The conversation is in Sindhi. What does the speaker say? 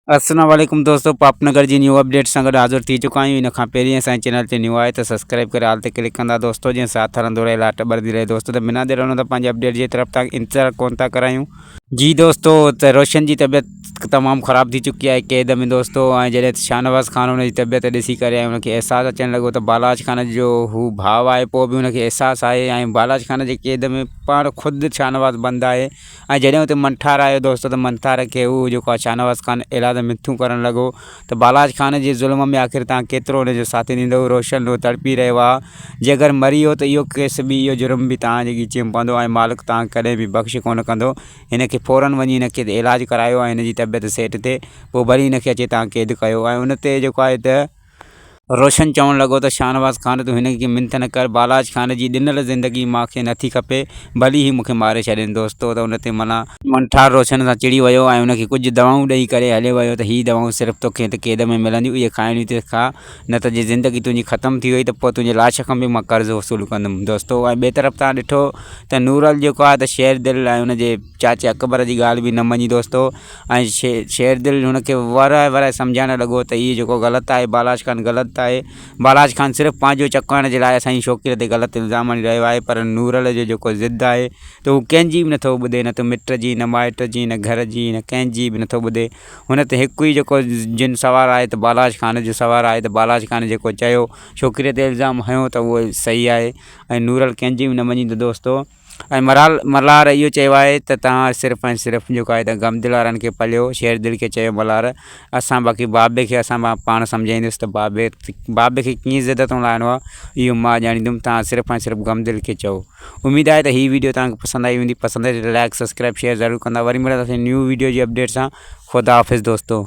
السلام عليڪم دوستو پاپ نگر جي نيو اپڊيٽ سان گڏ حاضر ٿي چڪا آهيون ان کان پهرين اسان جي چينل تي نيو آهي ته سبسڪرائب ڪري آل تي ڪلڪ ڪندا دوستو جنهن ساٿ هلندو رهي لاٽ ٻرندي رهي دوستو ته بنا دير هلندو پنهنجي اپڊيٽ جي طرف تان انتظار ڪون ٿا ڪرايون جي دوستو ته روشن جي طبيعت تمام خراب ٿي چڪي آهي قيد ۾ دوستو ۽ جڏهن شاهنواز خان ان جي طبيعت ڏسي ڪري ان کي احساس اچڻ لڳو ته بالاج خان جو هو ڀاء آهي پوء به ان کي احساس آهي ۽ بالاج خان جي قيد ۾ پاڻ خود شاهنواز بند آهي ۽ جڏهن اتي منٺار آيو دوست ته منٺار کي هو جيڪو آ شاهنواز خان اهڙا ته مٿيون ڪرڻ لڳو ته بالاچ خان جي ظلم ۾ آخر توهان ڪيترو ان جو ساٿي ڏيندؤ روشن روء تڙپي رهيو آ جي اگر مري ويو ته اهو ڪيس به اهو جرم به توهان جي ڳچيء ۾ پوندو ۽ مالڪ توهان کي ڪڏهن به بخش ڪونه ڪندو هن کي فورن وڃي هن کي علاج ڪرايو ۽ هن جي طبيعت سيٽ ٿئي پوء وري هن کي اچي توهان قيد ڪيو ۽ ان تي جيڪو آهي ته روشن چوڻ لڳو ته شاهنواز خان تون هن کي منٿ نه ڪر، بالاچ خان جي ڏنل زندگي مان کي نٿي کپي، ڀلي هي مون کي ماري ڇڏين دوستو ته ان تي ملا، منٺار روشن سان چڙي ويو ۽ ان کي ڪجهه دوائون ڏئي ڪري هليو ويو ته هي دوائون صرف توکي هت قيد ۾ ملنديون اهي کائڻيون ته کا نه ته جي زندگي تنهنجي ختم ٿي وئي ته پوء تنهنجي لاش کان به مان قرض وصول ڪندم دوستو ۽ ٻئي طرف تان ڏٺو ته نورل جيڪو آهي ته شير دل ۽ ان جي چاچي اڪبر جي ڳالهه به نه مڃي دوستو ۽ شير دل هن کي ورائي ورائي سمجهائڻ لڳو ته هيء جيڪو غلط آهي، بالاچ خان غلط آهي. بالاچ خان صرف پنهنجو چڪائڻ جي لاء اسان جي شوڪيء تي غلط الزام هڻي رهيو آهي، پر نورل جو جيڪو ضد آهي ته هو ڪنهن جي به نه ٿو ٻڌي، نه ته مٽ جي، نه مائٽ جي، نه گهر جي، نه ڪنهن جي به نه ٿو ٻڌي. هن ته هڪ ئي جيڪو جن سوار آهي ته بالاچ خان جو سوار آهي ته بالاچ خان جيڪو چيو، شوڪيء تي الزام هنيو ته اهو ئي صحيح آهي ۽ نورل ڪنهن جي به نه مڃيندو دوستو! ۽ مرال ملهار اهو چيو آهي ته توهان صرف ۽ صرف جيڪو آهي ته غم دل وارن کي پليو، شير دل کي چيو ملهار اسان باقي بابي کي اسان مان پاڻ سمجهائيندس ته بابي بابي کي ڪيئن زده تون لاهڻو آهي اهو مان ڄاڻيندم توهان صرف ۽ صرف غم دل کي چئو. اميد آهي ته هي وڊيو توهان کي پسند آئي هوندي پسند آئي ته لائڪ سبسڪرائب شيئر ضرور ڪندا وري ملنداسين نيو وڊيو جي اپڊيٽ سان خداحافظ دوستو.